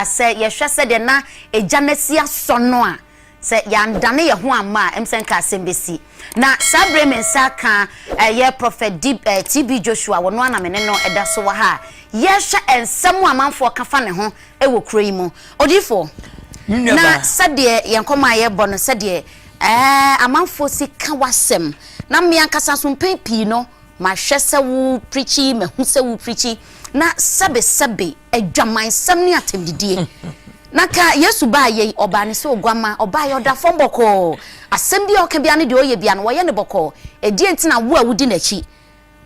a, sɛ yɛhwɛ sɛdeɛ na egya no asi asɔ no a, sɛ yɛandane yɛn ho amma a, ɛm sɛ nka asɛm bɛsi. Na saa berɛ yi me nsa aka ɛyɛ Prɔfɛt D, ɛɛ TB Joshua, wɔno ara na me ne no da so wɔ ha a yɛrehwɛ nsɛm a amanfoɔ ka fa ne ho wɔ kuro yi mu. Odiyifoɔ, Me nua na baa. sɛdeɛ yɛn nkɔmmɔ a yɛrebɔ no, sɛdeɛ ɛɛ amanfoɔ si ka w'asɛm, na me ankasa nso mpɛn pii no, mahwɛ sɛ wo preachi, mahu sɛ wo preachi, na sɛbesɛbe, Adwamansɛm ne atɛmdidie. Na ka Yesu baayɛ yi, ɔbaa ne sɛ oguamma. Ɔbaeɛ, ɔda fam bɔkɔɔ. Asɛm biara a ɔka biara ne deɛ ɔyɛ biara no, wɔyɛ no bɔkɔɔ. Ɛdeɛn nti na wo a wodi n'akyi,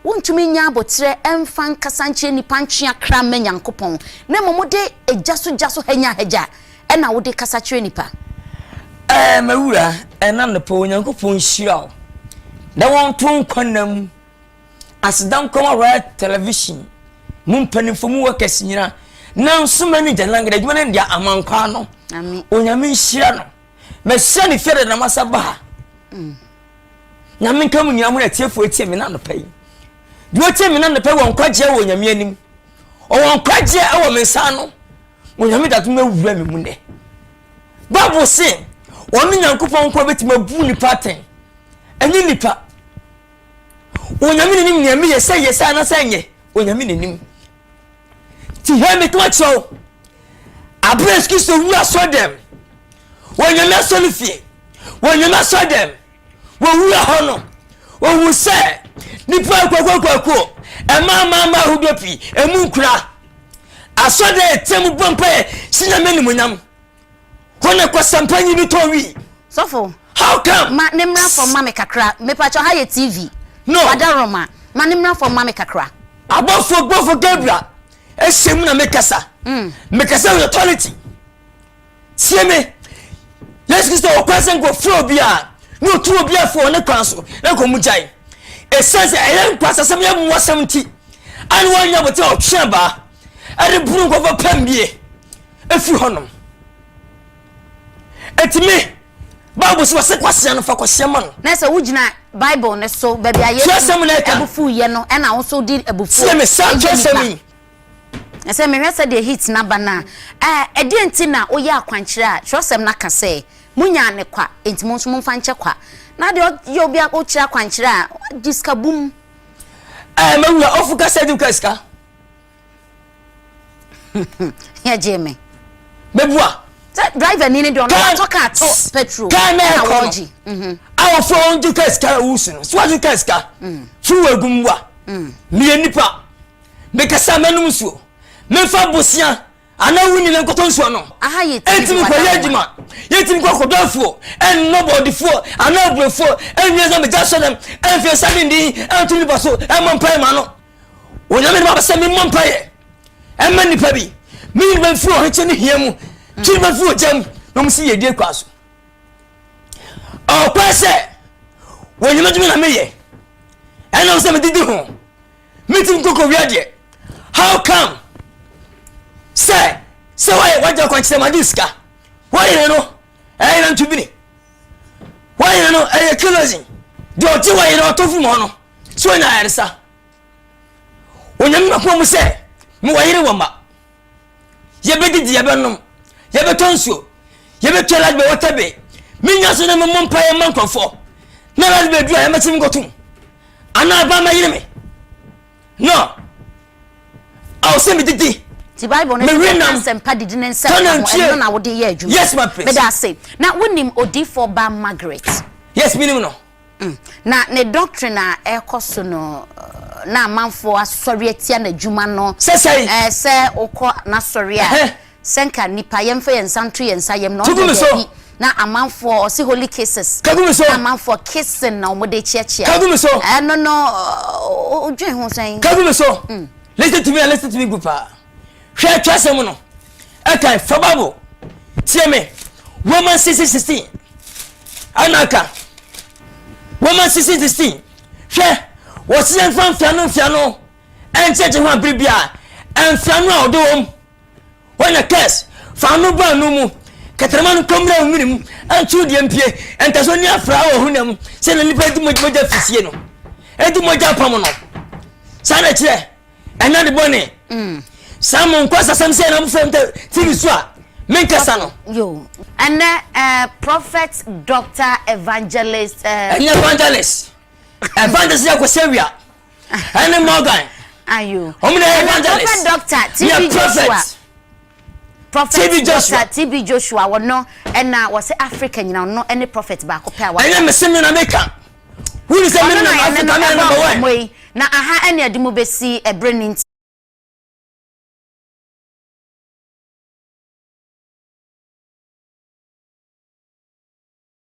wontumi nnya aboterɛ mfa nkasa nkyerɛ nnipa ntwe akra mma Nyankopɔn, na mmom wode gya so gya so hanyahagya na wode kasa kyerɛ nnipa? Ɛɛ, m'awuraa, ɛnnɛ anɔpa yi, Onyankopɔn nhyira wo, na wɔnto nkwa nna mu. Aseda Nkrumah Royal Television mu mpanimfoɔ mu workers nyina na nso manager na ngada adwuma no deɛ amankwaa no onyame nhyira no mahyira ne fie dada na masa ba ha mm. nyame nka mu nyina mo na atiefoɔ atie me no anɔpa yi deɛ ɔtie me no anɔpa yi wɔ nkwagyeɛ wɔ onyame anim ɔwɔ nkwagyeɛ ɛwɔ me nsa no onyame dato no awura me mu nnɛ bible se ɔno nyankopɔn nkoa bɛtumi abu nipa atɛn ɛnyɛ nipa Onyame na nim nea meyɛ sɛ yɛ sɛ anasɛ ɛnyɛ Onyame na nim ti hɛ meto akyerɛ wo abere a Kristo wu asɔ dɛm wɔ Nyame asɔ no fie wɔ Nyame asɔ dɛm wɔ wura hɔ no owu sɛ nipa kwakwakwakuo ɛmaa maa maa ahodoɔ pii emu nkura asɔ dɛ ɛtɛm bɔ mpa yɛ si Nyame animonyam Hɔ na kwasɛmpa nyi no tɔn wii. Sɔfo. How come? Ma ne mmra fam ma me kakra. Mepakyɛ ha yɛ TV. No. Wada Roma. Ma ne mmra fam ma me kakra. Abɔfo bɔfo Gabriel ɛhyɛ mu na mekasa. Mm. Mekasa with authority. Tie me. Yesu Kristo wɔ kwan sɛ nkɔ fura obiara na otu obiara fo ne kwan so na nkɔ mu gyae. Ɛsiane sɛ ɛyɛ nkwasasɛm yɛ mmoasɛm nti, ɛne wɔnyɛ bote ɔtwe abaa ɛde bunu nkɔfɔ pɛm bie. Ɛfiri hɔ nom. Enti me, Bible sɛ wɔsɛ kwasea no fa kwasea ma no. Na sɛ wogyina Bible no so, baabi a Yesu abufuo yɛ no, ɛna wo so di abufuo. Tie me, saa kyerɛsɛm yi. Na sɛ mehwɛ sɛ deɛ heat na ba no a, ɛɛ, ɛdeɛ nti na woyɛ akwankyerɛ a kyerɛsɛm no aka sɛ, monyaa ne kwa, enti mo nso momfa nkyɛ kwa. Na deɛ ɔyɛ obi a wokyerɛ akwankyerɛ a, gye sika bum. Ɛɛ, mawura, ɔfo kasa di wo ka sika. yɛ gye me. mebua. sɛ driver ni ne deɛ ɔno watɔ kaa to petrol kaa na ɛkɔ no a wɔfrɛ wɔn to kaa sika wusu no so wato kaa sika so wɔ egu mu wa meyɛ nipa mekasa mɛnum nsuo mefa bosia. Anaa wonni ne nkotɔnsuo no. Aha yɛ TV Ɛntumi kɔyɛ wadanwa. adwuma. Yɛntumi kɔ akɔdɔ afuo. Ɛnnɔ bɔɔdefuo anaa aburofuo. Ɛnwie nsa mmɛgya asɔrem. Ɛmfee nsa de nni. Ɛnto nnipa so. Ɛmmɔ mpaeɛ mma no. Onyame de ma me sɛ memmɔ mpaeɛ mma nnipa bi. Meyi nnipa bi firi ɔhwekyɛ ne hia mu. Twe nnipa bi firi ogya mu. Na wɔn si yiedie kwan so. Ɔkɔɛ sɛ, wɔ Onyame adwuma na meyɛ. Ɛnam sɛ medidi ho. metim nkokowia deɛ how come sɛ sɛ woayɛ wagya kwankyerɛ ma de sika woyere no ɛyɛ na ntubini woyere no ɛyɛ kerosene deɛ ɔte wɔyere ɔtɔ firi mu hɔ no so ɔnya ayaresa onyame makoma mu sɛ mewɔ yere wɔ mma Yɛbɛdidi, yɛbɛnom, yɛbɛtɔ nsuo, yɛbɛtwa light bɛ water bay. Menya so na memmɔ mpaeɛ mma nkurɔfoɔ. Na light bay duru a yɛmɛte me nkɔtom. Anaa ɛbaa mɛyere me. No. Awo sɛ medidi. Ti Bible no sɛ nam sɛmpa didi ne nsɛm ka ho ɛno na wode yɛ adwuma. Yes, my prince. Meda ase. Na wonim odifoɔ ba Margaret? Yes, menim no. Na ne doctrine a ɛrekɔ so no na amanfoɔ asɔre atia n'adwuma no sɛ wokɔ n'asɔre a sɛ nka nnipa yɛmfa yɛn nsa nto yɛn nsa yam na ɔsɛ daabi na amanfoɔ ɔse holy cases na amanfoɔ kissing na wɔde kyeakyea ɛno no wodwen ho sɛn kagu me so listen to me and listen to me group a Hwɛ twerɛsɛm no ɛkan fa bible tie me Romans 16 16 ɛna aka Romans 16 16 hwɛ wɔsi yɛn fa mfiano mfiano ɛnkyɛkyɛ ho abiri bi a ɛnfiano a ɔdɔ wɔm wɔn na kɛs fa ano bɔ ano mu kɛtɛrɛma no kɔmmerɛ nwini mu ɛntu deɛ mpie ɛntɛso ni afra wɔ ho nam sɛ na nipa di mogya fisie no ɛdi mogya pam no saa na kyerɛ ɛna de bɔne mm. saa mo nkɔ sasɛm sɛ ɛna mofrɛ m tv so a menkasa no ɛnɛ eh, prophet doctor evangelist eh, ɛnyɛ evangelist evangelist yɛ kɔsɛ wia ɛne morgan ɔmo na yɛ evangelist doctor tv joshua prophet tv joshua tv joshua wɔno ɛna wɔsɛ africa nyina ɔno ɛne prophet baako pɛ a wɔn ɛnyɛ mesemi na meka Wúni sɛ mímu yɛn ase ka no ɛna bɛwɔ ɛ. Yi, na aha ɛne ɛde mu bɛsi ɛberɛ no nti.